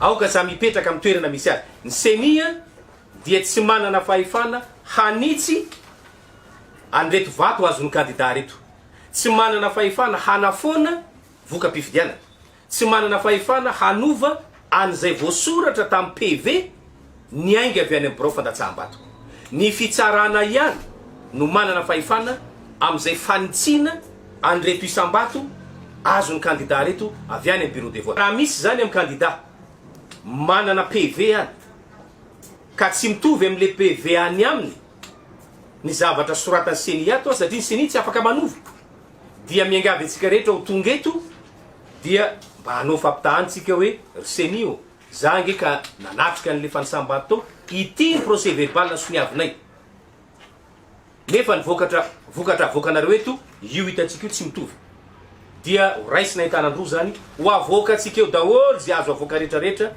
Aoka za mipetraka amin'ny toerana misy azy. Ny ceni dia tsy manana fahefana hanitsy an'ireto vato azon'ny kandida ireto. Tsy manana fahefana hanafoana voka-pifidianana. Tsy manana fahefana hanova an'izay voasoratra tamin'ny PV niainga avy any amin'ny birao fandatsaham-bato. Ny fitsarana ihany no manana fahefana amin'izay fanitsiana an'ireto isam-bato azon'ny kandidà ireto avy any amin'ny Bureau de vote. Raha misy izany amin'ny kandidà manana PV any ka tsy mitovy amin'ilay PV any aminy ny zavatra soratan'ny ceni ato satria ny ceni tsy afaka manova Dia miangavy antsika rehetra ho tonga eto dia mba hanao fampitahan tsika hoe ry ceni ô, za ange ka nanatrika anle fanisam-bato tao, ity ny procès verbal soniavinay, nefa ny vokatra vokatra avoakanareo eto io hitantsika io tsy mitovy, dia ho raisina entanan-droa zany, ho avoakantsika eo daholo ze azo avoaka retraretra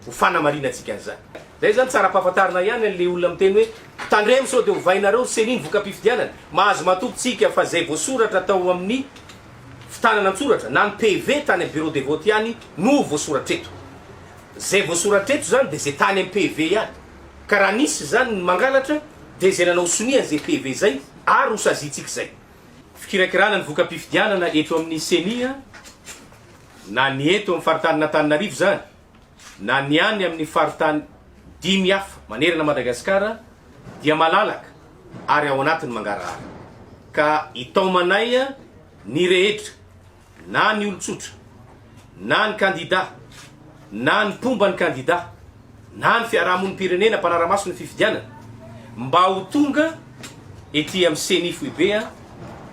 Ho fanamarinantsika an'izany. Izay izany tsara ampahafantarina ihany an'ilay olona miteny hoe, Tandremo sao dia ovainareo ry Ceni ny voka-pifidianana. Mahazo matoky tsika fa izay voasoratra tao amin'ny fitanana an-tsoratra na ny PV tany amin'ny bureau de vote ihany no voasoratra eto. Izay voasoratra eto izany dia izay tany amin'ny PV ihany. Ka raha nisy izany ny mangalatra dia izay nanao sonia an'izay PV izay ary hosaziantsika izay. Fikirakirana ny voka-pifidianana eto amin'ny Ceni. na ny eto amin'ny faritanin'Antananarivo izany na ny any amin'ny faritany dimy hafa manerana an'i Madagasikara dia malalaka ary ao anatin'ny mangarahara ka itaomanay ny rehetra na ny olon-tsotra na ny kandida na ny mpomba ny kandida na ny fiarahamonim-pirenena mpanara-maso ny fifidianana mba ho tonga ety amin'ny Ceni Foibe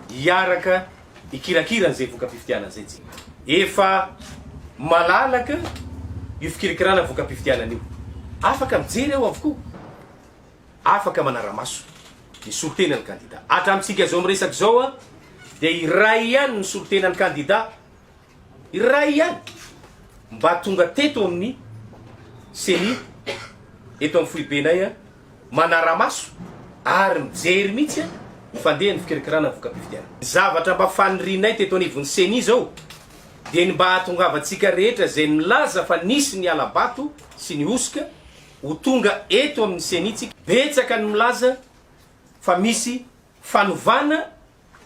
hiaraka hikirakira an'izay voka-pifidianana izay tsy. Efa malalaka io fikirakirana voka-pifidianana io. Afaka mijery ao avokoa. Afaka manara-maso ny solontenan'ny kandida. Hatramintsika izao miresaka izao dia iray ihany ny solontenan'ny kandida. Iray ihany mba tonga teto amin'ny ceni eto amin'ny foibenay manara-maso ary mijery mihitsy ny fandehan'ny fikirakarana ny voka-pifidianana. Ny zavatra mba fanirianay teto anivon'ny ceni izao dia ny mba hahatongavantsika rehetra izay milaza fa nisy ny hala-bato sy ny hosoka ho tonga eto amin'ny ceni tsika. Betsaka ny milaza fa misy fanovana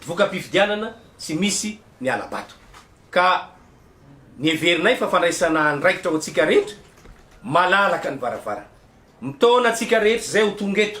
voka-pifidianana tsy misy ny hala-bato ka neverinay fa fandraisana andraikitra ho antsika rehetra malalaka ny varavarana. Mitaona antsika rehetra izay ho tonga eto.